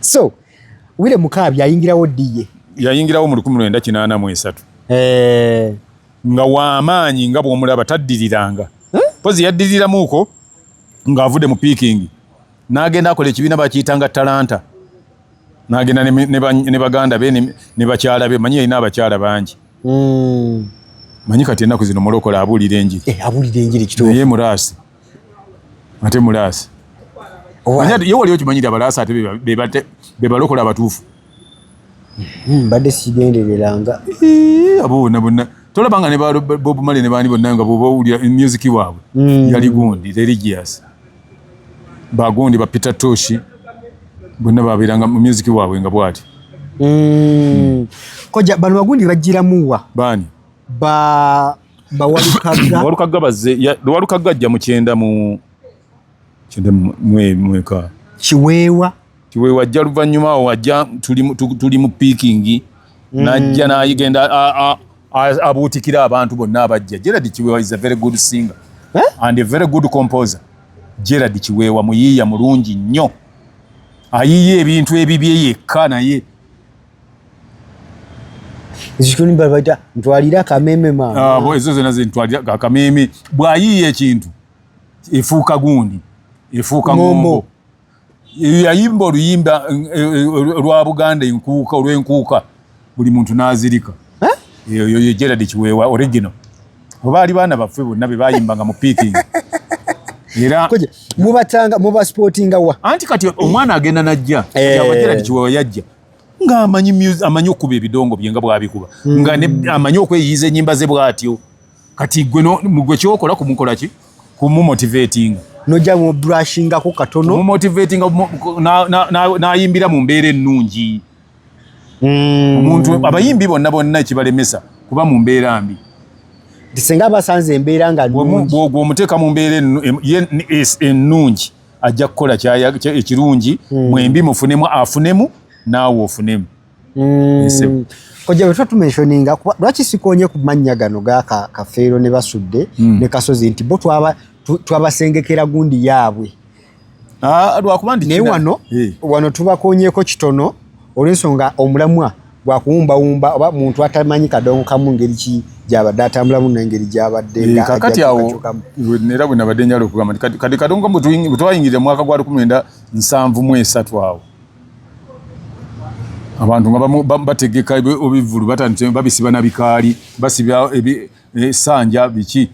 so wile mukaabi yayingirawo diye yayingirawo mu lukumi lwenda kinaana mu esatu eh. nga wamaanyi nga bwomulaba taddiriranga mpozi yaddiriramuuko ng'avudde mu piikingi n'agenda akola ekibiina bakiyitanga talanta n'agenda ne baganda be ne bakyala be manyi yalina abakyala bangi hmm. manyi kati ennaku zino mulokola abuulira enjiri eh, naye muraasi ate mulaasi ye wali okimanyi nti abalaasi ate bebalokola abatuufu hmm, mbadde sigendereranga abo bonna bonna tolaba nga ne ba bob male ne baani bonna nga bwoba owulira music waabwe hmm. yali gundi religious bagundi ba peter toshi bonna babeeranga mu music waabwe nga bwati hmm. koja bano bagundi bajjiramuwa baani ba bawalukagga bazze lwalukagga ajja mu kyenda mu kyenda mweka kiweewa kiweewa ajja luvannyuma awo ajja tuli mu piikingi mm. najja nayigenda abuutikira abantu bonna abajja gerard kiweewa is a very good singer eh? and a very good composer gerard kiweewa muyiiya mulungi nnyo ayiiya ebintu ebibye yekka naye zikunimbala baita ntwalira akameme mama ah, ezo zena zentwalira akameme bwayiiya ekintu efuuka gundi efuuka ngombo yayimba oluyimba olwa eh, eh, buganda enkuuka olwenkuuka buli muntu nazirika eyo yo gerard kiweewa original oba ali baana baffe bonna be bayimbanga mu piiking era mubatanga mubasportinga wa anti kati omwana agenda najja eh. gerard kiweewa yajja nga amanyi music amanyi okuba ebidongo byenga bwabikuba mm. nga ne amanyi okweyiza enyimba ze bwatyo kati gwe no mugwe kyokola kumukola ki kumu motivating no jamu brushing ko katono mu motivating na na na, na yimbira mu mbere nungi mm. umuntu abayimbi bonna bonna kibalemesa kuba mu mbere ambi disenga basanze mbere nga nungi bwo gwo muteka mu mbere ye ennungi ajja kukola ekirungi hmm. mwembi mufunemu afunemu naawe ofunemu hmm. kojja bwetuba tumensioninga kuba lwaki sikonye ku mannya gano gaka kafeero ne basudde hmm. ne kasozi nti bo twabasengekera gundi yaabwe ah, lwakuba naye wano eh. wano tubakonyeko kitono olw'ensonga omulamwa gwakuwumbawumba oba muntu atamanyi kadongo kamu ngeri ki gyabadde atambulamu nengeri gyabadde eh, kakati awo era bwe nabadde njala okugamba nti kati kadongo kamu bwetwayingirira mwaka gwa lukumi lwenda nsanvu mu esatu awo abantu nga bategeka ebivulu batandise babisiba na bikaali basiba esanja eh, biki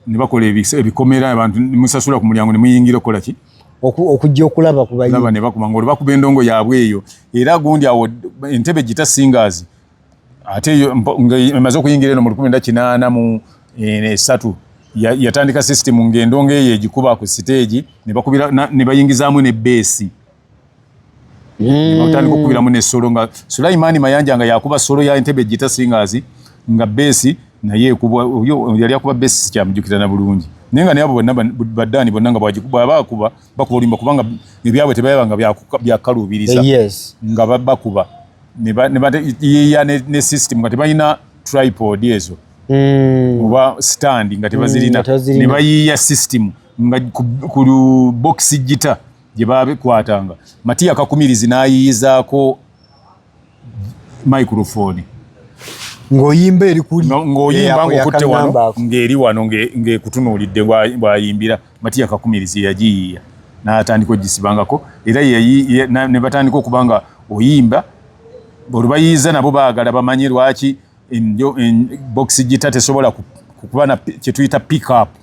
ne bakola ebikomera abantu musasula ku mulyango ne muyingira okukola ki okujja okulaba kubalaba ne bakuma ngoli bakuba endongo yaabwe eyo era gundi awo entebe gita singers ate emaze okuyingira eno mu lukumi nda kinaana mu eh, esatu yatandika system ng'endongo eyo egikuba ku siteegi ne bayingizaamu ne beesi mm. otandika okubiramu nesolo nga sulaimani mayanja nga yakuba solo ya entebe gita singazi nga besi naye ekubwa yali akuba besi sikyamujukira na bulungi naye nga nayabo bonna baddaani bonna nga bwabakuba bakuba olimba kubanga ebyabwe tebayaba nga byakaluubiriza yes. nga bakuba yeya ne system nga tebalina tripod ezo mm. oba stand nga tebazirina mm, nebayiiya system nga ku box gita gye baabikwatanga matiya kakumirizi n'ayiyizaako microfooni ng'oyimba eri kuli ng'oyimba ng'okutte wano ng'eri wano ng'ekutunuulidde bw'ayimbira matiya kakumirizi yagiyiiya n'atandika ogisibangako era ne batandika okuba nga oyimba olubayiiza nabo baagala bamanye lwaki bokisi gita tesobola kuba kye tuyita pickup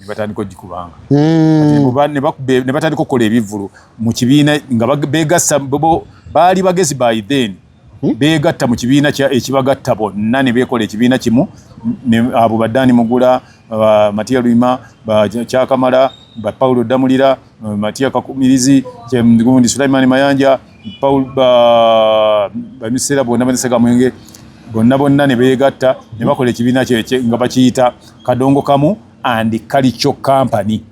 ne batandika ogikubanga hmm. ne batandika okukola ebivvulu mu kibiina nga beegassa bo baali bagezi by then hmm? beegatta mu kibiina ekibagatta bonna ne beekola ekibiina kimu abo baddaani mugula matiya lwima kyakamala bapawulo ddamulira matiya kakumirizi gundi sulaimani mayanja paul bamisera bonna banisega mwenge bonna bonna ne beegatta ne bakola ekibiina kyekye nga bakiyita kadongo kamu and kalico company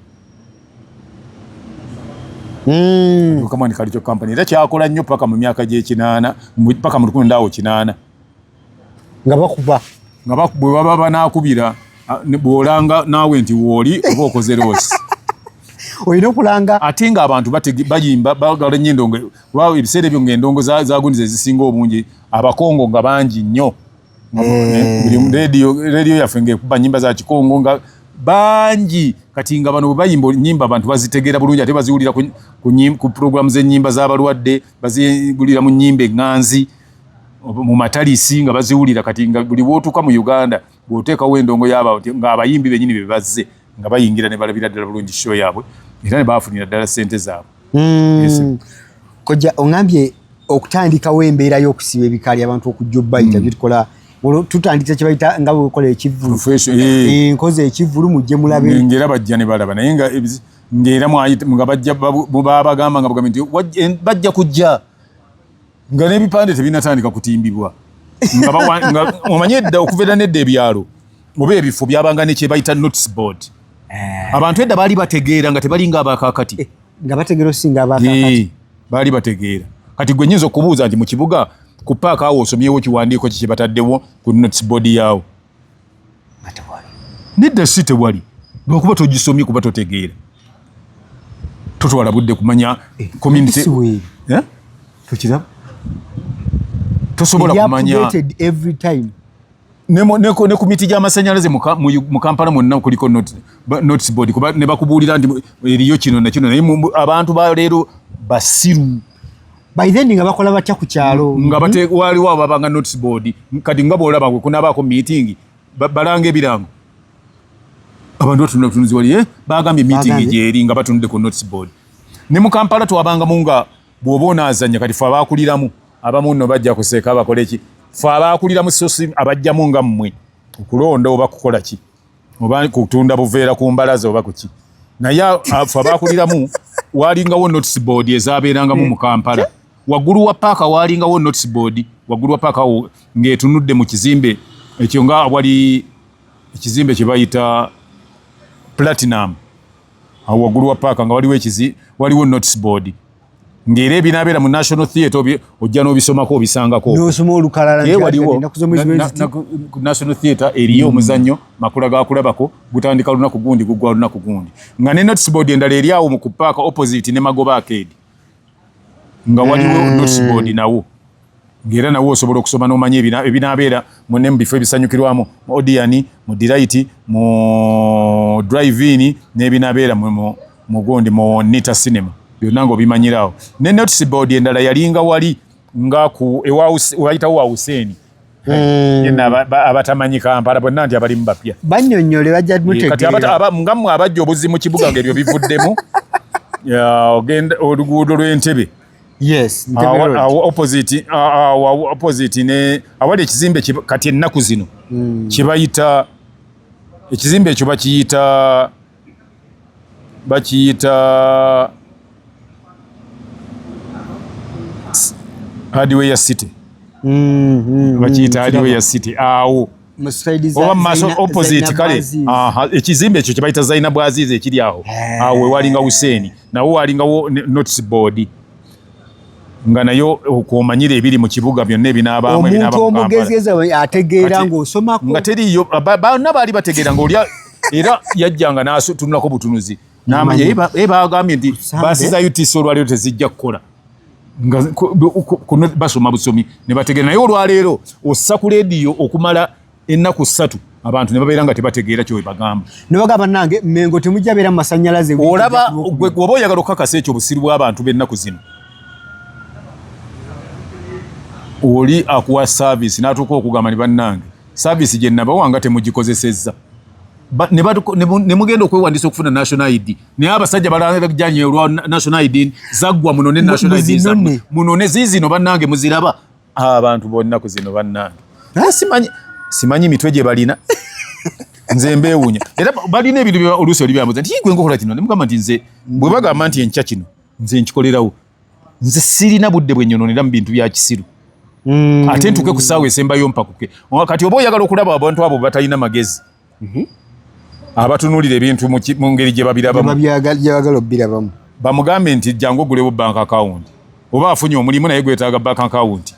hmm. kamu and kalico company era kyakola nnyo paka mu myaka gyekinaana paka mu lukumi ndaawo kinaana nga bakuba nga bwe baba banaakubira bw'olanga naawe nti wooli oba okoze loosi olina okulanga ate nga abantu bayimba bagala nyo endongo kuba ebiseera ebyo nga endongo zagundiza ezisinga obungi abakongo nga bangi nnyo rediyo yaffe ngaekuba nyimba za kikongo nga bangi kati nga bano bwebayimba nyimba abantu bazitegeera bulungi ate baziwulira ku puroguramu z'enyimba z'abalwadde bazigulira mu nyimba eŋŋanzi mu matalisi nga baziwulira kati nga buli wotuka mu Uganda bwotekawo endongo yaba nga abayimbi benyini bebazze nga bayingira ne balabira ddala bulungi show yabwe era ne bafunira ddala sente zaabwe mm. kojja ongambye okutandikawo embeera y'okusiba ebikaali abantu okujja obbayita mm. byetukola tutandika kyebayita nga bwekola ekivulu eh. Eh, nkoze ekivulu mujje mulabe ngera bajja ne balaba naye nga ngera mwayita nga bajja babagamba nga bajja kujja nga n'ebipande tebinatandika kutimbibwa omanyi edda okuva era nedda ebyalo oba ebifo byabanga nekyebayita notes board eh. abantu edda baali bategeera nga tebalinga abakakati eh, nga bategeera osinga abakakati eh, baali bategeera kati gwe nyinza okubuuza nti mu kibuga ku paaka awo osomyewo kiwandiiko kikyebataddewo ku notes board yaawo nedda si tewali lwakuba togisomye kuba totegeera totwala budde kumanya eh, community eh? tokiraba tosobola kumanya every time ne ne ku miti gy'amasannyalaze mu kampala mwonna kuliko notes board kuba ne bakubuulira nti eriyo kino na kino naye abantu ba leero basiru by then nga bakola batya ku kyalo nga bate mm-hmm. waliwo ababanga notice board kati nga bwolaba gwe kunabaako meeting balanga ebirango abantu batunula butunuzi wali eh? bagambye meeting gyeri nga batunudde ku notice board ne mu kampala twabangamu nga bwoba onaazanya kati fe abakuliramu abamu no bajja kuseeka bakole ki fe abakuliramu sosi abajjamu nga mmwe okulonda oba kukola ki oba kutunda buveera ku mbalaza oba kuki naye afa bakuliramu walingawo notes board ezabeerangamu mu kampala waggulu wa paaka walingawo notes board waggulu wa paaka wo ng'etunudde mu kizimbe ekyo nga wali ekizimbe kye bayita platinum awo waggulu wa paaka nga waliwo ekizi waliwo notes board ngere binabera mu national theatre obi ojja no bisomako obisangako no somo olukalala nti waliwo national theatre eriyo mm. muzanyo makula ga kulabako gutandika luna kugundi gugwa luna kugundi nga ne notes board endale eri awo mu kupaka opposite ne magoba arcade nga waliwo mm. notes board nawo ng'era nawe osobola okusoma n'omanya ebinaabeera mune mu bifo ebisanyukirwamu mu odiyani mu dirayiti mu driveini n'ebinaabeera mugundi mu nita cinema byonna ngaobimanyiraawo ne notice board endala yalinga wali nga ku ewayitawo wa huseeni hmm. abatamanyi kampala bonna nti abalimu bapya banyonyole bajjamutegeerangamwe abajja obuzi mu kibuga ngaebyo bivuddemu ogenda oluguudo lw'entebe yes opposite opposite ne awali ekizimbe kati ennaku zino hmm. kyebayita ekizimbe ekyo bakiyita bakiyita hardware city hmm, hmm, bakiyita hardware city awo oba maaso opposite kale ekizimbe ekyo kyebayita zainabu azizi ekiri awo eh. awo wewalinga huseeni nawo walingawo notice board nga nayo okumanyira ebiri mu kibuga byonna ebinabaamu omuntu omugezigezi ategeera ngaosomako nga teriyo banna baali bategeera ngaolya era yajjanga natunulako butunuzi namanya ye bagambye nti baasi za utc olwaleero tezijja kukola nga kuno basoma busomi ne bategeera naye olwaleero ossa ku leediyo okumala ennaku ssatu abantu ne babeera nga tebategeera kyo webagamba nebaga bannange mengo temujja beera mu masannyalaze olaba oba oyagala okukakasa ekyo obusiru bw'abantu b'ennaku zino oli akuwa saaviisi n'atuuka okugamba ne bannange saaviisi gye nabawanga temugikozesezza ne mugenda okwewandiisa okufuna national id naye abasajja balajanye olwa national id zaggwa munone national id zammwe munone ziizino bannange muziraba ah, abantu bonnaku zino bannange naye simanyi simanyi mitwe gye balina nze mbeewunya era balina ebintu oluusi olibyamuza nti gwe nkokola kino ne mugamba nti nze bwe bagamba nti enkya kino nze nkikolerawo nze sirina budde bwenyononera mu bintu bya kisiru mm. ate ntuke ku saawa esembayo mpakuke kati oba oyagala okulaba abantu abo batalina magezi mm -hmm. abatunulira ebintu mu ngeri gye babirabamubyagala obirabamu bamugambe nti jangu ogulewo bank account oba afunye omulimu naye gwetaaga bank account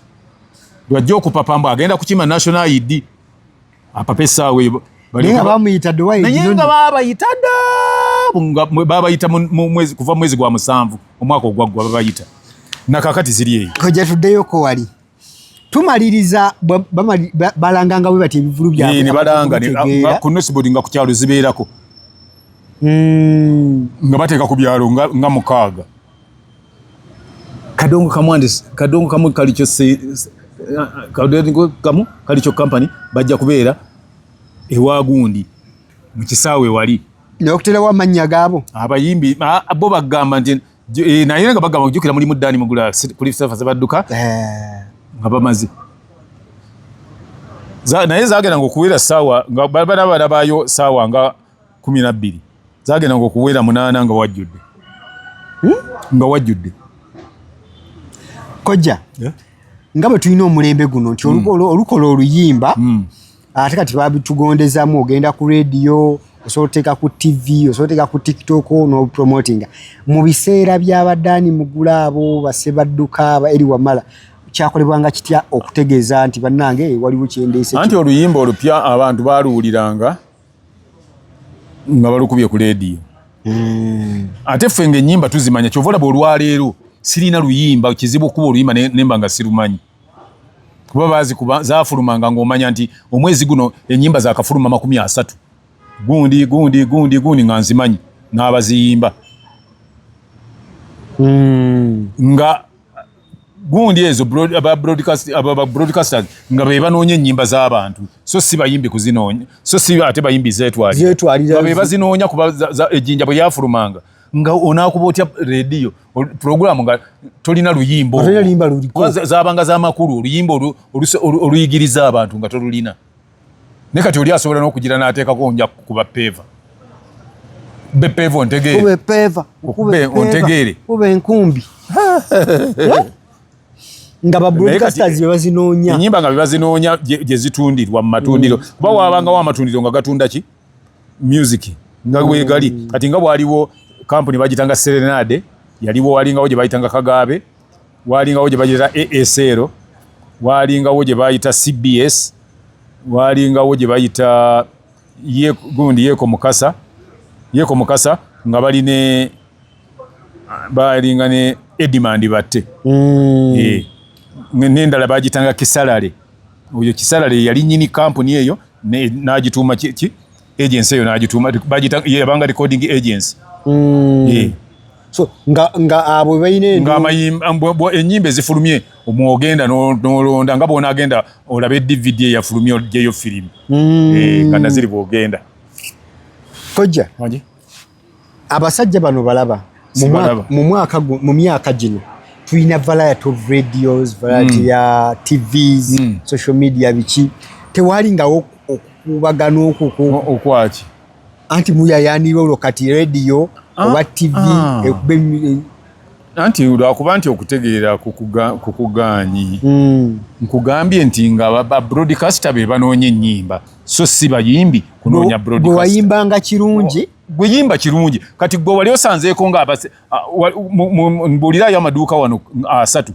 lwajja okupapa mbu agenda kukima national id apapesa we naye nga bamuyita dduwa naye nga babayita da babayita kuva mu mwezi gwa musanvu omwaka ogwaggwa babayita nakakati ziri eyo koja tuddeyoko wali tumaliriza balanganga bwe bati ebivulu byabalanga ah, ku nosibodi nga ku kyalo zibeerako hmm. nga bateeka ku byalo nga mukaaga kadongo kamwandisi kadongo kamu kalikyo kadongo kamu kalikyo company bajja kubeera ewagundi mu kisaawe wali nokuterawo amannya gaabo abayimbi bo bagamba nti eh, naye nga bagamba kujukira mulimu dani mugula kuli safa zebadduka eh. nga bamaze naye zagendanga okuwera saawa nga bana bana bayo saawa nga kumi na bbiri zagendanga okuwera munaana nga wajjudde hmm? nga wajjudde kojja eh? nga bwe tulina omulembe guno nti hmm. olukola oluyimba hmm. ate kati babitugondezamu ogenda ku rediyo osobola oteeka ku tv osobola oteeka ku tiktok nopromotinga mu biseera byabadani mugula abo basebadduka aba eri wamala kyakolebwanga kitya okutegeeza nti bannange waliwo kyendeese anti oluyimba olupya abantu baluwuliranga nga balukubye ku leediyo hmm. ate ffe nga enyimba tuzimanya kyova olaba olwaleero sirina luyimba kizibu okuba oluyimba nemba nga sirumanyi kuba bazi kuba zafulumanga ngaomanya nti omwezi guno enyimba zakafuluma makumi asatu gundi gundi gundi gundi nga nzimanyi n'abaziyimba hmm. nga gundi ezo aba broadcast aba broadcasters nga be banonye nyimba za abantu so si bayimbi kuzinonya so si ate bayimbi zetwali zetwali be bazinonya kuba za ejinja bwe yafurumanga nga onakuba otya radio program nga tolina luyimbo limba luliko zabanga za makuru luyimbo oluyigiriza abantu nga tolulina ne kati oli asobola n'okugira n'ateekako nja kukuba peeva be peeva ontegeere peeva ontegeere kuba enkumbi nga ba broadcasters be bazinoonya enyimba nga be bazinoonya gye zitundirwa mu matundiro mm. kuba waabangawo amatundiro nga gatunda ki music nga mm. wegali kati nga bwaliwo kampuni bagitanga serenade yaliwo walingawo gye bayitanga kagaabe waalingawo gye bagiyita asl waalingawo gye baayita cbs waalingawo gye bayita gundi yeko mukasa yeko mukasa nga bali ne baalinga ne edimandi batte mm. eh, nendala bagitanga kisalale oyo kisalale yali nyini kampuni eyo n'agituuma ki agency eyo n'agituuma yabanga recording agency hmm. so nga nga abo ah, bayine nga mayimba ah, enyimbe zifulumye omwogenda nolonda nga bona agenda olabe dvd ya fulumye ojeyo film mm. eh kana ziri bwogenda koja maji abasajja bano balaba mu mwaka mu myaka gino tulina variety of radios variety mm. ya tvs mm. social media biki tewali nga okubagana okukuokwaki anti muyayanira olwo kati radio ah, oba tv ah. anti lwakuba nti okutegeera kukugaanyi hmm. nkugambye nti nga babroadcaster be banoonya ennyimba so si bayimbi kunoonya broadcasterwayimbanga kirungi gweyimba kirungi kati gwe wali osanzeeko nga mbuulirayo amaduuka wano asatu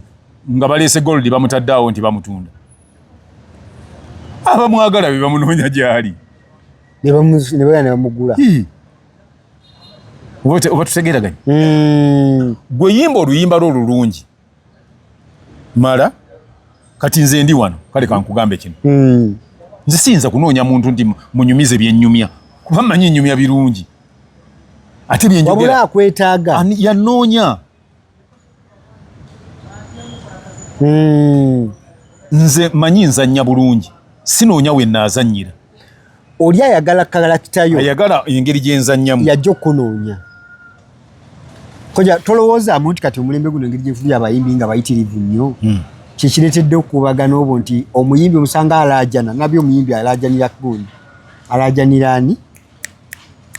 nga baleese gold bamutaddaawo nti bamutunda abamwagala be bamunoonya gyali nebamugula oba tutegeraganye hmm. gwe yimba oluyimba lwo olulungi mala kati nze ndi wano kale kankugambe kino hmm. nze siyinza kunoonya muntu nti munyumize byenyumya kuba manyi nyumya birungi ate byenjogera wabula akwetaaga yanoonya Hmm. nze manyi nzannya bulungi sinoonya we naazannyira oli ayagala kalakitayo ayagala engeri gyenzannyamu yajja okukunoonya koja tolowoozaamu nti kati omulembe guno engeri gyefubi abayimbi nga bayitirivu nnyo hmm. kyekireetedde okukubagana obwo nti omuyimbi omusanga alaajana nabyo omuyimbi alaajanira gundi alaajanira ani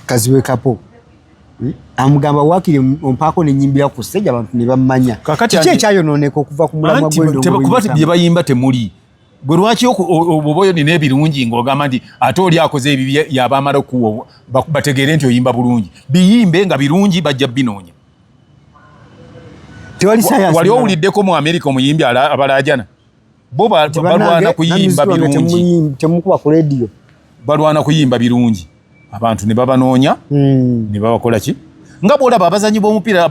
kaziwe kapo hmm? amugamba wakiri ompaako nenyimbira ku stage abantu ne bammanya kiki ekyayonooneka okuva ku mulamwa gwekuba bye bayimba temuli gwe lwaki oboyo nina ebirungi ngaogamba nti ate oli akoze ebibi yaba amala okuwa bategeere nti oyimba bulungi biyimbe nga birungi bajja binoonya wali owuliddeko mu amerika omuyimbi abalajana bo balwana kuyimba birungi temukuba ku radio balwana kuyimba birungi abantu ne babanoonya hmm. ne babakola ki nga bwolaba abazanyi b'omupiira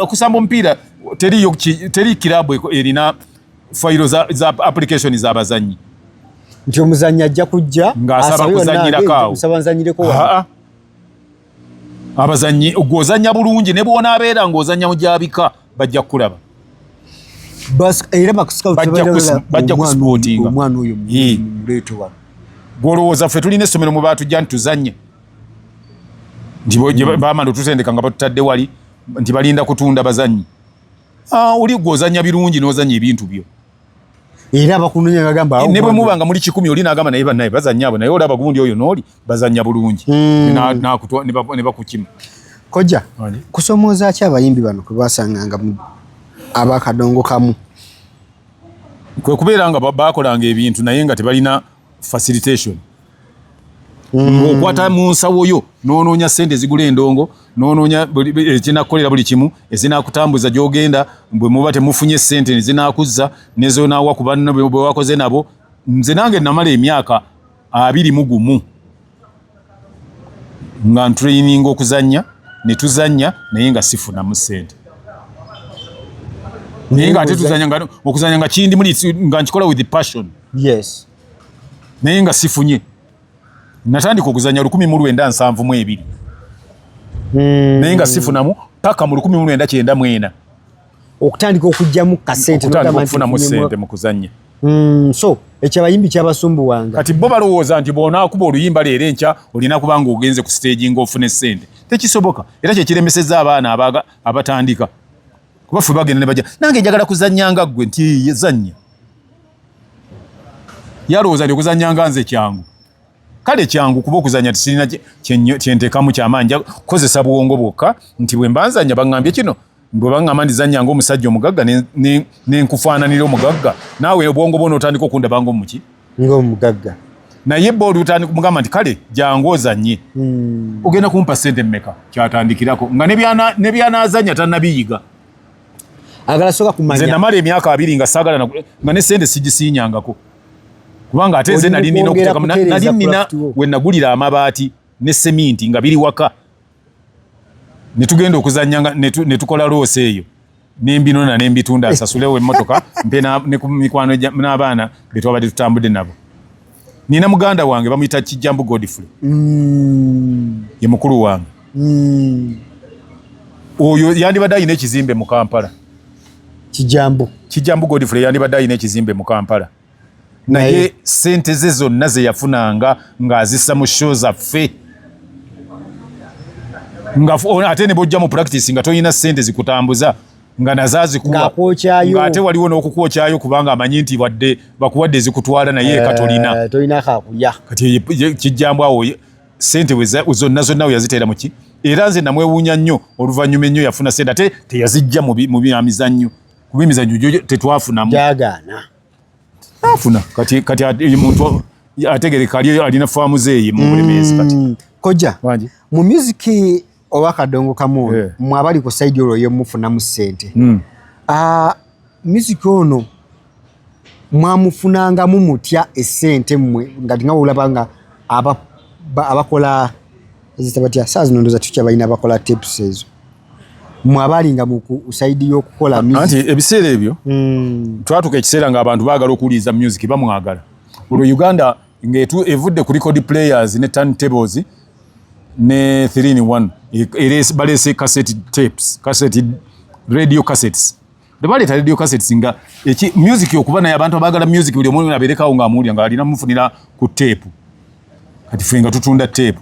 okusamba omupiira teriyo teri kirabu erina fayiro za, za application z'abazanyi nti omuzanyi ajja kujja ng'asaba kuzanyirako awo abazannyi gw'ozannya bulungi ne bw'onaabeera ng'ozannya mu gyabika bajja kukulaba bajja kusipootinga gw'olowooza ffe tulina essomero mu baatujja nti tuzannye nti hmm. bamala otutendeka nga batutadde wali nti balinda kutunda bazannyi ah, oli gw'ozannya birungi n'ozannya ebintu byo era bakunonya bagamba awo ne bwe muba nga muli kikumi oli nagamba naye banaye bazanya abo naye olaba gundi oyo noli bazanya bulungi hmm. na na kutwa ne bakukima koja kusomoza acha abayimbi bano kubasanga nga abakadongo kamu kwe kubeera nga bakolanga ebintu naye nga tebalina facilitation mm. okwata mu nsawo yo nononya sente zigula endongo nononya ekinakukolera buli kimu ezinakutambuza gyogenda bwe muba temufunye sente nezinakuzza nezonawa ku banna bwewakoze nabo nze nange namala emyaka abiri mu gumu nga ntuleyininga okuzannya ne tuzannya naye nga sifunamu ssente naye nga ate tuzanya nga okuzanya nga kindi muli nga nkikola with passion yes naye nga sifunye natandika okuzanya lukumi mu lwenda nsanvu mu ebiri hmm. naye nga sifunamu paka mu lukumi mu lwenda kyenda mwena okutandika okujjamu kasente nokufunamu sente mu kuzannya mm, so ekyo abayimbi kyabasumbuwanga kati bo balowooza nti bwonaakuba oluyimba leero enkya olina kuba nga ogenze ku siteegi ngaofune sente tekisoboka era kyekiremeseza abaana abatandika kuba fe bagenda nebaja nange njagala kuzannya nga ggwe nti yezannya yalowooza nti okuzannya nga nze kyangu kale kyangu kuba okuzanya tisirina kyentekamu kyamaanyi kukozesa bwongo bwokka nti bwe mbanzanya baŋambye kino Bwe bangamba ndi zanya ng'omusajja omugagga nenkufaananira omugagga, naawe obwongo bwona otandika okundaba ng'omuki? Ng'omugagga. Naye bo olutandika mugamba nti kale jangu ozanye. Hmm. Ogenda kumpa ssente mmeka? Kyatandikirako nga ne byanaazanya tannabiyiga. Agala soka kumanya. Nze namala emyaka abiri nga saagala nga ne ssente sigisiinyangako. Kubanga ate nze nali nina okutekamu nali nina we nagulira amabaati ne seminti nga biri waka. ne tugenda okuzannya nga ne tukola loosi eyo ne mbinona ne mbitunda nsasulewo emmotoka mpe ne ku mikwano n'abaana be twabadde tutambudde nabo nina muganda wange bamuyita kijjambu godfrey mm. ye mukulu wange mm. oyo yandibadde alina ekizimbe mu kampala kijjambu kijjambu godfrey yandibadde alina ekizimbe mu kampala naye sente ze zonna zeyafunanga ng'azissa mu sho zaffe ate ne bwojja mu practice nga tolina sente zikutambuza nga nazaazikuwaate waliwo n'okukwokyayo kubanga amanyi nti wadde bakuwadde ezikutwala naye eka eh, tolina kati kijjambu awo sente zonna zonna weyaziteera muki era nze namwewuunya nnyo oluvannyuma ennyo yafuna sente ate teyazijja mu byamizannyo kuba emizanyo gyo tetwafunamu gyagaana afuna kati kati omuntu ategereka ali alina faamu zeeye mu bulemeezi kati mm, kojja mu music oba kadongo kamu yeah. mwe abali ku saidi olwo yemufunamu ssente mm. uh, music ono mwamufunangamu mutya esente mmwe nga nga olaba nga abakola zita batya saa zino ndoza tukya balina abakola tips ezo mwe abaalinga mu saidi y'okukola anti ebiseera ebyo hmm. twatuka ekiseera ng'abantu baagala okuwuliriza music bamwagala olwo uganda ng'evudde ku record players ne turn tables ne 3 in 1 e, e, baleese cassette tapes cassette radio cassettes Bebaleeta radio cassettes nga eki music okuba naye abantu abagala music buli omuntu aberekawo nga amuwulira nga alina mufunira ku tape. Kati fenga tutunda tape.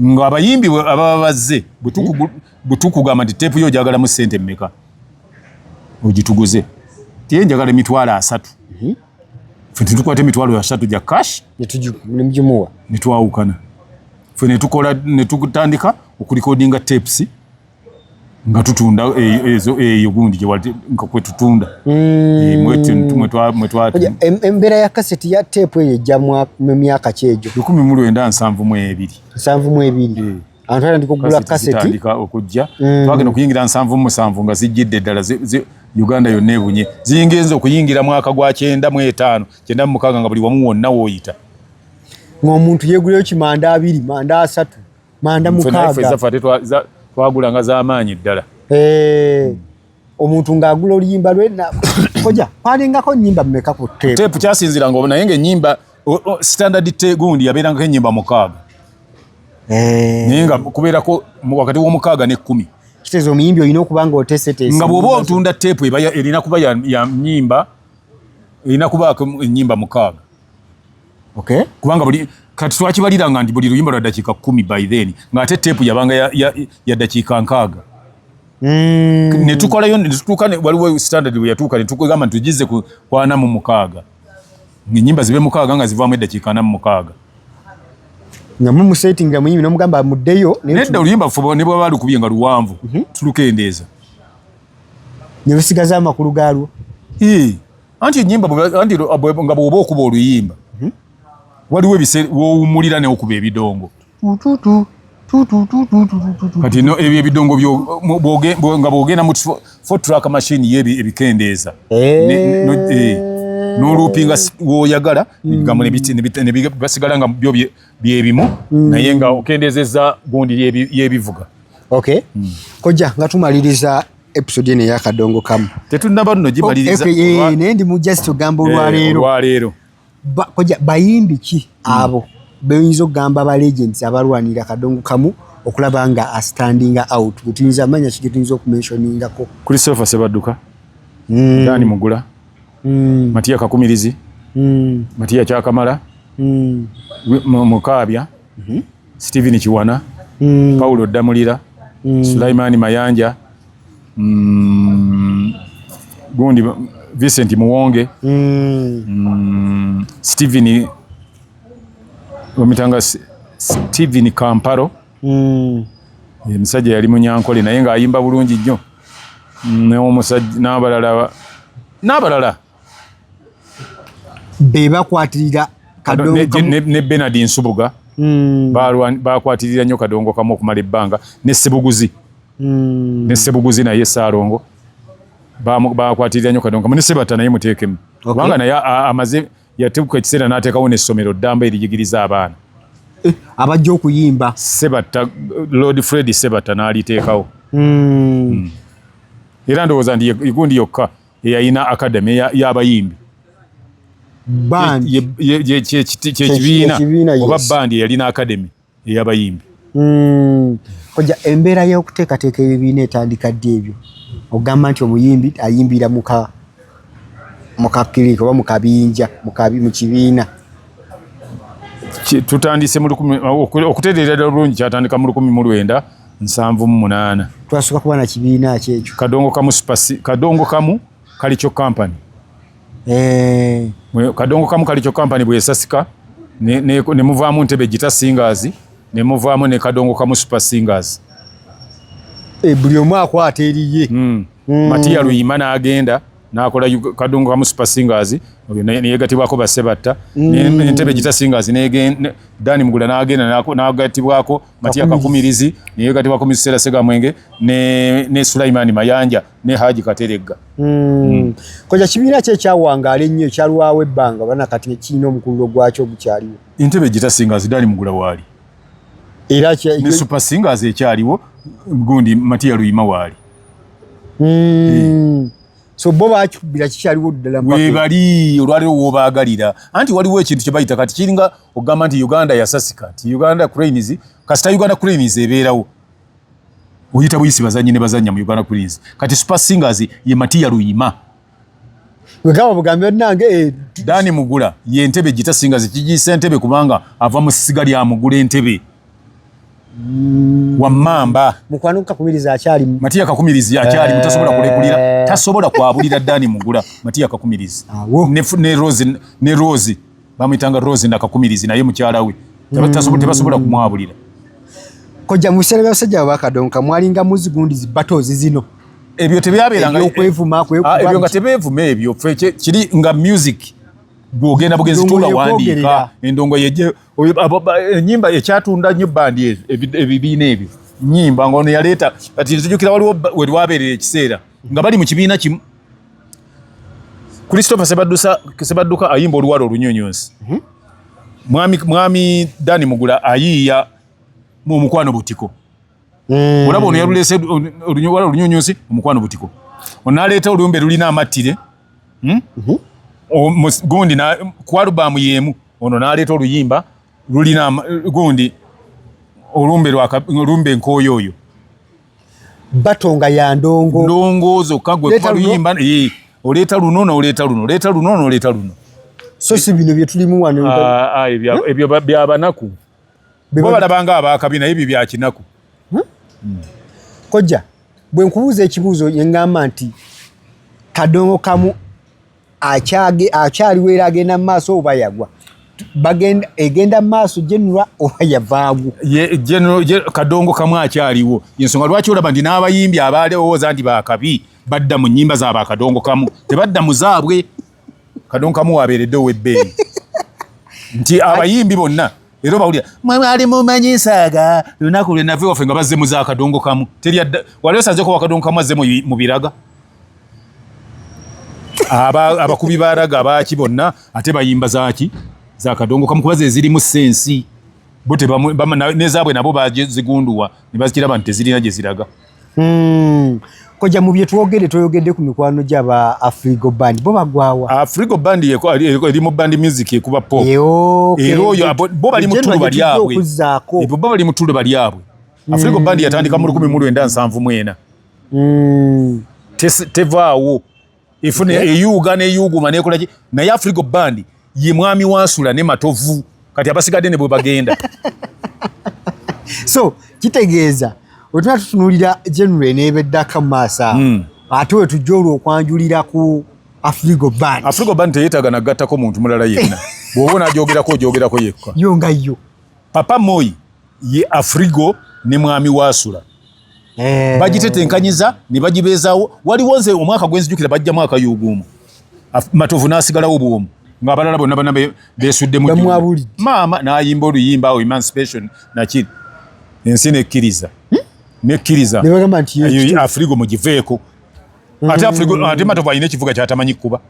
Nga abayimbi ababa bazze butuku butuku gamba nti tape yo jagala mu sente mmeka. Ojituguze. Tiye njagala emitwalo asatu. Mhm. Fe tukwate emitwalo asatu ja cash. Netuju nemjumuwa. Netwawukana. Fe netukola netutandika okulikodinga tapes. nga tutunda eh, ezo eyo gundi gye wali nga kwe tutunda mm. eh, embeera ya kaseti ya teepu eyo ejja mu myaka ki egyo lukumi mu lwenda nsanvu mu ebiri nsanvu mu ebiri eh. abantu atandika okugula kaseti okujja mm. twagenda okuyingira nsanvu musanvu nga zijjidde ddala uganda yonna ebunye ziyingenza okuyingira mwaka gwa kyenda mu etaano kyenda mu mukaaga nga buli wamu wonna wooyita ng'omuntu yeeguleyo kimanda abiri manda asatu manda mukaaga twagulanga zamaanyi ddala eh, omuntu ng'agula oluyimba lwe koja kwalingako nyimba mumeka ku tepu tepu kyasinziranga obu naye ng'enyimba standard tegundi yabeerangako enyimba mukaaga eh. naye nga kubeerako wakati w'omukaaga n'ekkumi kiteeza omuyimbi olina okuba nga oteeseteese nga bw'oba otunda tepu erina kuba ya nyimba erina kubaako enyimba mukaaga okay kubanga buli kati twakibalira nga ndi buli luyimba lwa dakika kumi by then nga ate tepu yabanga ya, ya, ya dakika nkaaga mm. netukolayo netutuuka waliwo standard bwe yatuuka netugamba nti tugize ku kwana mu mukaaga enyimba zibe mukaaga nga zivaamu eddakiika ana mu mukaaga nga mumusetinga muyimbi nomugamba muddeyo nedda oluyimba fuba ne bwaba lukubye nga luwanvu mhm. tulukendeeza ne lusigaza amakulu gaalwo anti enyimba anti nga bwoba okuba oluyimba mhm. waliwo ebiseera wowumulira neokuba ebidongo kati no ebyo ebidongo nga bwogenda mu fotrack machine ye ebikendeeza noluupinga woyagala gambo nebasigala nga byo byebimu mm. naye nga okendeezeza gundi yebivuga okay mm. kojja nga tumaliriza episode eno eyakadongo kamu tetunaba nno gimaliriza oh, eh, eh, naye ndi mu just ogamba eh, olwaleero olwaleero koja bayimbi ki hmm. abo beyinza okugamba ba legends abalwanira kadongo kamu okulaba nga astandinga out getuyinza amanya ki getuyinza okumenshoningako christopher sebadduka hmm. dani mugula hmm. matiya kakumirizi matiya kyakamala mukaabya mhm. Steven Kiwana, mm. Paulo Damulira, mm. Sulaiman Mayanja, mm, gundi Vincent Muwonge, mm. Mm, Steven omitanga Steven Kamparo. Mm. Emisajja yali munyankole naye nga ayimba bulungi nnyo. Mm, N'omusajja n'abalala n'abalala be bakwatirira ne benard nsubuga hmm. bakwatirira nnyo kadongo kamu okumala ebbanga ne sebuguzi hmm. ne sebuguzi naye saalongo bakwatirira nnyo kadongo kamu ne sebata naye muteekemu kubanga naye amaze yatebuka ekiseera n'ateekawo n'essomero ddamba erijigiriza abaana eh, abajja okuyimba sebata lord fred sebata n'aliteekawo hmm. era ndowooza nti igundi yokka eyalina academy y'abayimbi kyekibiina oba bandi eyalina academy ey'abayimbi hmm. oja embeera y'okuteekateeka ebibiina etandika ddi ebyo ogamba nti omuyimbi ayimbira muka mukakirika oba mukabinja mu kibiina tutandise okutereera ddala bulungi kyatandika mu lukumi mu lwenda nsanvu mu munaana twasooka kuba na kibiina ki ekyo kadongo kamu supasi kadongo kamu kalikyo kampani eh. kadongo kamu kalikyo kampani bweyesasika nemuvaamu ne, ne ntebe gita singaazi nemuvaamu ne kadongo kamu supa singaazi e, eh, buli omu akwata eriye mm. mm. matiya luyima n'agenda nakola kadongo kamu supa singaazi neyegatibwako basebatta mm. nentebe gita singaazi dani mugula n'agenda nagatibwako Matia Kakumirizi ne yekati wa komisera Sega Mwenge ne ne Sulaiman Mayanja ne Haji Kateregga. Mm. Mm. Koja kibira kye kyawanga ali nnyo kyalwawe banga bana kati ne kino mukululo gwacho gukyali. Intebe jita singa zidali mugula wali. Era kya ne super singa ze kyaliwo gundi Matia Luima wali. Mm. Hey. Eh. so bo bakikubira kikyaliwo ddala webali olwaliwo wobaagalira anti waliwo ekintu kye bayita kati kiringa okugamba nti uganda yasasika nti uganda cranes kasita uganda cranes ebeerawo oyita buyisi bazannyi ne bazannya mu uganda cranes kati super singers ye matiya luyima wegamba bugambi banange eh, dani mugula ye entebe gita singers kigiisa entebe kubanga ava mu ssiga lya mugula entebe Mm. wamamba mukwano kakumiriza akyali matiya kakumirizi akyali eh. mutasobola kulekulira tasobola kwabulira dani mugula matiya kakumirizi ne, ne rose ne rose bamwitanga rose na kakumirizi naye mukyala we mm. tasobola tebasobola kumwabulira koja musere basajja bakadonka mwalinga muzigundi zi battles zino ebyo tebyaberanga okwevuma kwevuma ah, ebyo nga tebevuma ebyo kiri nga music bwogenda bugenzi tula wandika endongo yeje enyimba ekyatunda nyo bandi ezo ebibiina ebyo nyimba nga ono yaleeta kati nzijukira waliwo werwabeerera ekiseera nga bali mu kibiina kimu christopher sebadduka ayimba oluwala olunyonyonsi mhm. mwami dani mugula ayiiya mu omukwano butiko mm. olaba ono yaluleese oluwala olunyonyonsi omukwano butiko onaleeta oluyumba elulina amattire hmm? mhm. gundi ku alubamu yemu ono naleeta oluyimba lulina gundi olumbe nkooyo oyo batonga ya ndongo ndongo zokka gwe luyimba eh, oleeta luno noleeta luno oleeta luno noleeta luno so si bino byetulimu wano ah, ah, ebyo byabanaku bo balabanga abakabi naye ebyo byakinaku hmm? Hmm. kojja bwe nkubuuza ekibuuzo yeŋŋamba nti kadongo kamu akyage akyaliwo era agenda mu maaso oba yagwa bagenda egenda mu maaso genera oba yavaagu kadongo kamu akyaliwo yensonga lwaki olaba nti n'abayimbi abaali owooza nti bakabi badda mu nnyimba zaabakadongo kamu tebadda mu zaabwe kadonkamu wabeeredde ow'ebbeeyi nti abayimbi bonna era obawulira mwe mwali mumanyi nsaaga lunaku lwe nava ewaffe nga bazze mu za kadongo kamu teri adda wali osanze kuba kadongo kamu azze mu biraga abakubi baraga baaki bonna ate bayimba zaaki za kadongo kamu kuba ze zirimu sensi bo nezaabwe nabo bazigunduwa ne bazikiraba nti tezirina gye ziraga Hmm. Koja mu bye twogede toyogede ku mikwano gya ba Afrigo Band. Bo bagwawa. Afrigo Band ye ko ali ko eri mu band music ye kuba pop. Ye o. Okay. Ero yo bo bali mu tulu bali yabwe. E bo bali mu tulu bali yabwe. Hmm. Afrigo Band yatandika mu 1971. Mm. Tevaawo. efuna eyuuga neyuuguma nekolaki naye afrigo bandi ye mwami wansula ne matovu kati abasigadde ne bwe bagenda so kitegeeza wetuna tutunulira general nebeddaka mu maaso awo hmm. ate wetujja olwo okwanjulira ku afrigo band afrigo band teyetaaga nagattako muntu mulala yenna bwoba onagyogerako ogyogerako yekka yo nga yo papa moyi ye afrigo ne mwami wasula eh. bagitetenkanyiza ne bagibeezawo waliwo nze omwaka gwenzijukira bajja mwaka yuguumu matovu n'asigalawo bwomu ng'abalala bonna bana beesuddemu maama n'ayimba oluyimba awo emancipation nakiri ensi nekkiriza hmm? nekkiriza afrigo mugiveeko ate hmm. afrigo ate matovu alina ekivuga kyatamanyi kukuba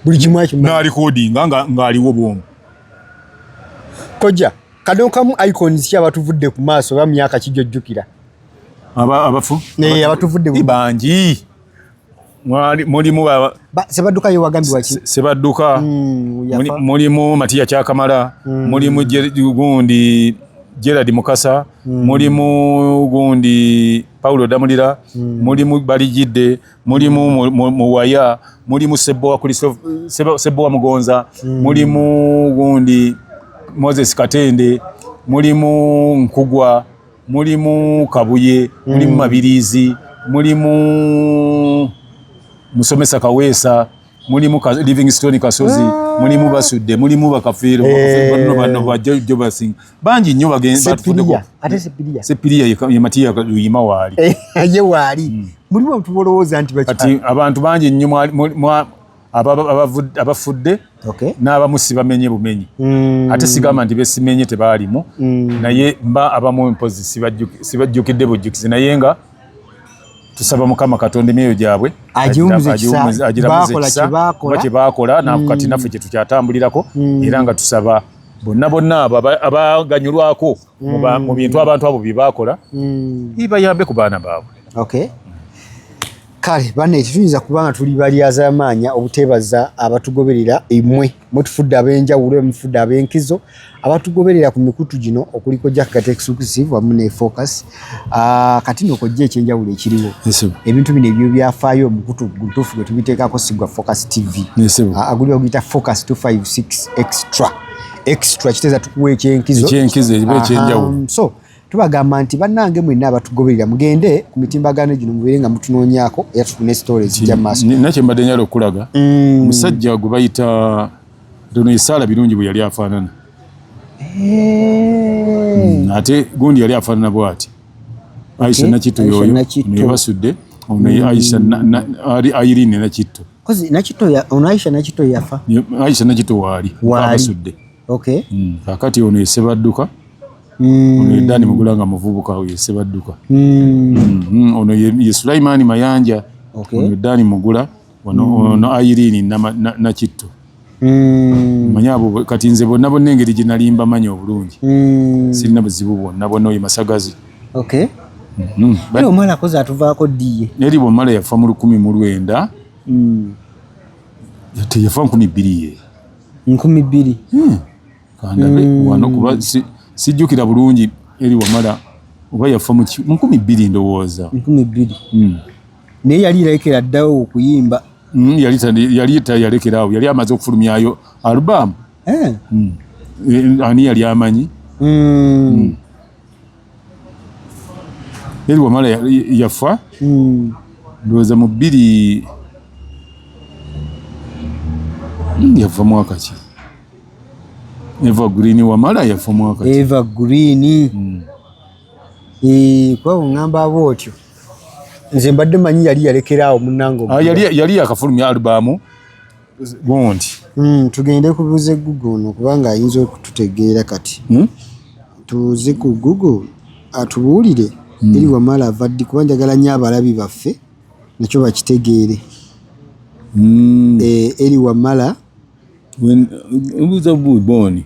buli kimu akimanyi na recording nga ngaliwo bwomu koja kano kamu icons kya batuvudde ku maaso ba myaka kijojjukira aba abafu ne abatuvudde ku bangi mwali mulimu ba sebaduka yo wagambi waki sebaduka mm, mulimu matiya kyakamala mm. mulimu gundi Gerard Mukasa mm. mulimu gundi Paulo Damulira mm. mulimu Balijide mulimu muwaya mulimu sebowa kuli sebowa mugonza mm. mulimu gundi moses katende mulimu nkugwa mulimu kabuye mm. mulimu mabirizi mulimu musomesa kaweesa mulimu ka livingstone kasozi ah. mulimu basudde mulimu bakafiiro eh. bano bano ba jojo basing bangi nnyo bagensepiria ate sepiria sepiria ye matiya luyima waali eh, ye waali hmm. mulimu abantu bolowooza nti kati abantu bangi nnyo mwa abafudde n'abamusi bamenye bumenyi hmm. ate sigamba nti besimenye tebaalimu hmm. naye mba abamu mpozi sibajjukidde bujjukizi naye nga tusaba mukama katonda emyoyo gyabwe agiramuzekisabakola kyebakola mm. kati naffe kyetukyatambulirako mm. era nga tusaba bonna bonna abo abaganyulwako mm. mu bintu abantu abo byebakola ibayambe ku baana baabwe kale bana ekituyinza kubanga tuli balyazamaanya obuteebaza abatugoberera emwe mwetufudde ab'enjawulo emufudde ab'enkizo abatugoberera ku mikutu gino okuliko jackgat exclusive wamu ne focus ah, kati no kojja ekyenjawulo ekiriwo ebintu bino ebyo byafaayo omukutu gutuufu gwe tubiteekako sigwa focus tv ah, aguliwo guyita focus 256 extra extra kiteeza tukuwa ekyenkizo ekyenkizo ekiba ekyenjawulo so tubagamba nti bannange mwenna abatugoberera mugende ku mitimbagano gino mubeere nga mutunoonyako era tufune sitore ezijja mu maaso nakye mbadde nyala okukulaga mm. musajja gwe bayita dono esaala birungi bwe yali afaanana eh. mm, ate gundi yali afaanana bwati aisha nakitto yoyo naye basudde ono mm. aisha ali ayirine nakitto nakitto ono aisha nakitto yafa aisha nakitto waali abasudde Okay. Mm. Kakati ono esebadduka. Mm. Ono edani mugula nga muvubuka oyo esebadduka. Mm. Mm. Mm. Ono ye, ye Sulaimani Mayanja. Okay. Ono edani mugula. Ono, mm. ono Airini na, na, na kitto. Mm. Manya abo kati nze bonna bonna engeri gye nali mbamanyi obulungi. Mm. Sirina buzibu bwonna bonna oyo masagazi. Okay. Mm. Mm. But, omala koza atuvaako ddiye. Neri bwomala yafa mu lukumi mu lwenda. Mm. Yateyafa nkumi bbiri ye. nkumi bbiri hmm. hmm. wano kuba sijjukira bulungi eri wamala oba yafa mu nkumi bbiri ndowooza nkumi bbiri hmm. naye yali yalekera ddawo okuyimba yali tayalekera awo yali amaze okufulumyayo alubamu eh. eh, ani yali amanyi yali wamala yafa hmm. ndowooza mu bbiri hmm, yava mwaka ki eva green wamala yafa mwaka eva green hmm. eh, kwabo ngamba aba otyo nze mbadde manyi yali yalekeraawo munange ah, yali yakafulumya albamu gundi mm, tugende kubuze google no kubanga ayinza okututegeera kati mm? tubuze ku google atubuulire mm. eri wamala avaddi kuba njagala nyo abalabi baffe nakyo bakitegeere mm. e, eri wamala mbuuza buubooni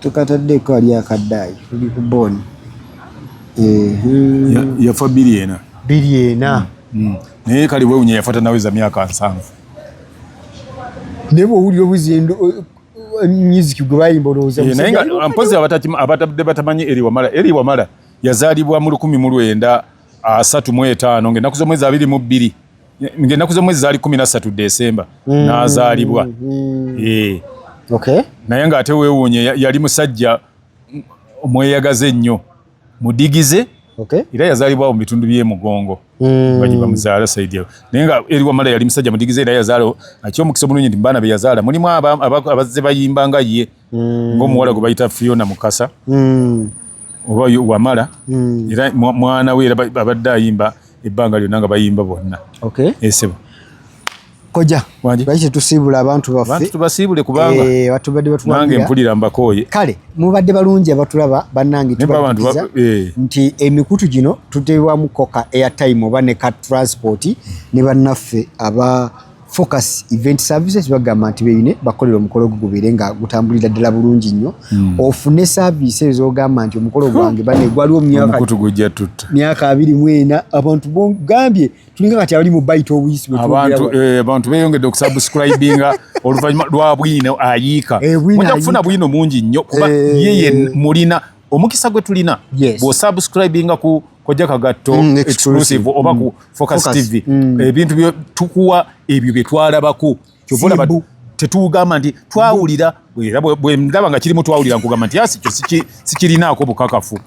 tukataddeko ali akadaayi tuli ku booni yafa biri ena biri ena mm, mm. naye kali wewunya yafa tanaweza myaka nsanvu naye bwowulira obuzendo music gwe bayimba olowooza eh, naye nga mpozi abatabde batamanyi eri wamala eri wamala yazaalibwa mu lukumi mu lwenda asatu mu etaano ng'ennaku z'omwezi abiri mu bbiri ng'ennaku z'omwezi zaali kumi na ssatu desemba mm. n'azaalibwa mm. eh. naye ng'ate weewuunye yali musajja omweyagaza ennyo mudigize era yazaalibwawo mu bitundu by'emugongo mm. baji bamuzaala saidi naye nga eri wamala yali musajja mudigize era yazaala akyomukisa omulungi nti mu baana be yazaala mulimu abazze bayimba nga ye mm. ng'omuwala gwe bayita fiona mukasa mm. oba wamala mm. era mwana we era abadde ayimba ebbanga lyonna nga bayimba bonna okay. esebo koja lwaki tusiibula abantu baffe tubasiibule kubanga eh, batubadde batuwange mpulira mbakooye kale mubadde balungi abatulaba bannange tubaiza eh. nti emikutu gino tuteebwamu koka airtime oba ne ka transport ne bannaffe aba focus event services bagamba nti beyune bakolera omukolo gwo gubeere nga gutambulira ddala bulungi nnyo mm. ofune service ezo ogamba nti omukolo gwange bane gwaliwo mumyakamukutu gujja tutta myaka abiri mwena abantu bogambye tulinga kati abali mu baita obuyisi abantu eh, abantu beyongedde okusubscribinga oluvannyuma lwa bwino ayiika eh, mujja kufuna bwino mungi nnyo kuba eh. yeye mulina omukisa gwe tulina yes. bwosubscribinga ku kojja kagatto mm, exclusive oba ku mm. focus, focus tv mm. ebintu eh, tukuwa ebyo bye twalabako kyovolaba tetugamba nti twawulira era bwendaba nga kirimu twawulira nkugamba nti asi kyo sikirinaako bukakafu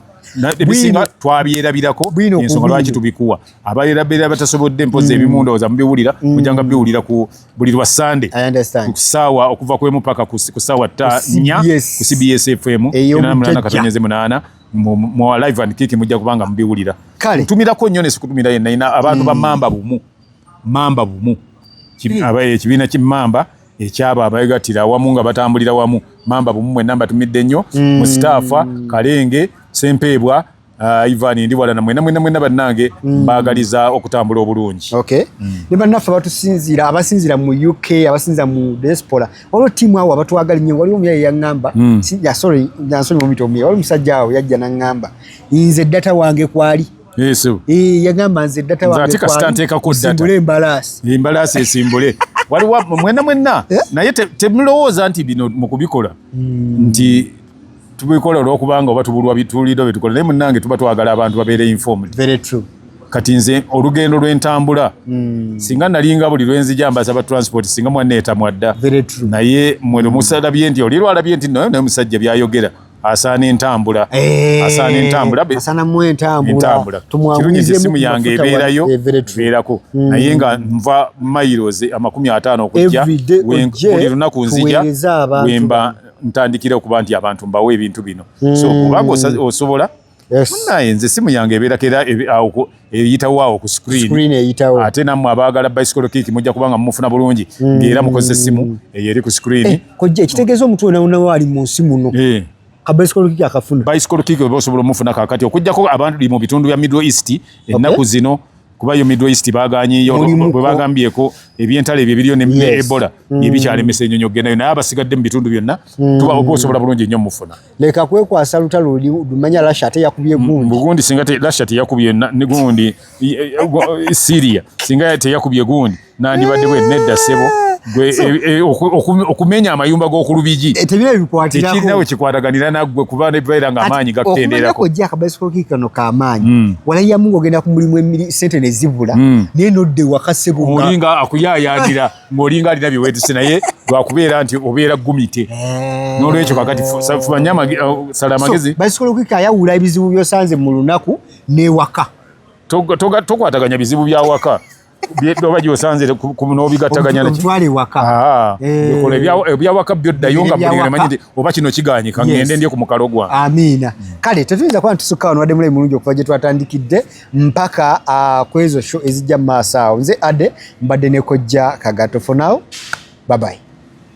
ebisinga twabyerabirako ensonga lwaki tubikuwa abaerabera batasobodde mpozi mm. ebimu ndowooza mubiwulira mujanga mm. biwulira ku buli lwa Sunday ku saawa okuva ku emu paka ku saawa nya ku CBS FM enamulana katonyeze munana mu live and kiki mujja kubanga mubiwulira ntumirako nnyo nesikutumira yenna ina abantu ba hmm. mamba bumu mamba bumu hmm. abaye ekibiina ki mamba ekyabo abagatira awamu nga batambulira wamu mamba bumu mwenna mbatumidde nnyo hmm. mustaafa kalenge sempeebwa Ah, Ivan ndi wala na mwena mwena mwena banange mm. bagaliza okutambula obulungi okay mm. ne banaffe batusinzira abasinzira mu UK abasinzira mu diaspora olwo team awo abatwagali nyo wali omuyaye yangamba mm. si ya sorry ya sorry mumito omuyaye wali musajja awo yajja nangamba inze data wange kwali yes eh yagamba nze data wange kwali nzatika stanteka ku data simbule embalasi embalasi esimbule wali wa mwena mwena yeah? naye te, te mlooza nti bino mukubikola mm. nti tubikola olwokubanga oba tubulwa bituulido byetukola naye munange tuba twagala abantu babeere informed very true kati nze olugendo lwentambula mm. singa nalinga buli lwenzija mbaza ba transport singa mwana etamwadda naye mweno musalabye nti oli lwalabye nti naye musajja byayogera asaana entambula eh, asaana entambula asaana mu entambula kirungi nti essimu yange ebeerayo eh, ebeerako hmm. naye nga nva mairos amakumi ataano okujja buli lunaku nzija wemba ntandikira okuba nti abantu mbawo ebintu bino so hmm. kubanga osobola naye nze simu yange ebeerako era eyitawo awo ku screen ate nammwe abaagala bicycle kick mujja kubanga mumufuna bulungi hmm. ngaera mukozesa essimu eyo eri ku screen eh, kojja ekitegeeza omuntu wenawonawo ali mu nsi muno eh. bicycle kick oba osobola omufuna kakati okujjako abantu li mu bitundu bya middle east ennaku zino kuba yo Middle East bagaanyeyo bwe bagambyeko ebyentalo ebyo ebiriyo ne Ebola mm. ebikyalemesa ennyonyi okugenda yo naye abasigadde mu bitundu byonna mm. tuba oba osobola bulungi ennyo mufuna leka kwekwasa lutalo lumanya Russia ate yakubye mm, gundi bugundi singa Russia teyakubye ne gundi Syria singa teyakubye gundi nandibadde bwe nedda sebo eh. okumenya amayumba g'okulubigi eh, tekirinawe kikwataganira naggwe kuba nebeera nga amaanyi gakutendeerakoakabasokikano kamaanyi hmm. walayamu ng'ogenda ku mulimu sente ne zibula hmm. naye nodda ewaka sebolinga akuyayaanira ng'olinga alina byewetuse naye lwakubeera nti obeera gumite eh. n'olwekyo kakati fumanya sala amagezi basobola okukika ayawula ebizibu byosanze mu lunaku n'ewaka tokwataganya bizibu byawaka oba gyosanze nobigataganya ah, eh. ebyawaka byo ddayo nga manyi nti oba kino kiganyika ngende ndye ku mukalo gwa amiina hmm. kale tetuyinza kuba ntusukka wano wadde mulayi mulungi okuva gye twatandikidde mpaka ah, ku ezo sho ezijja mu maaso awo nze ade mbadde nekojja kagato for now babayi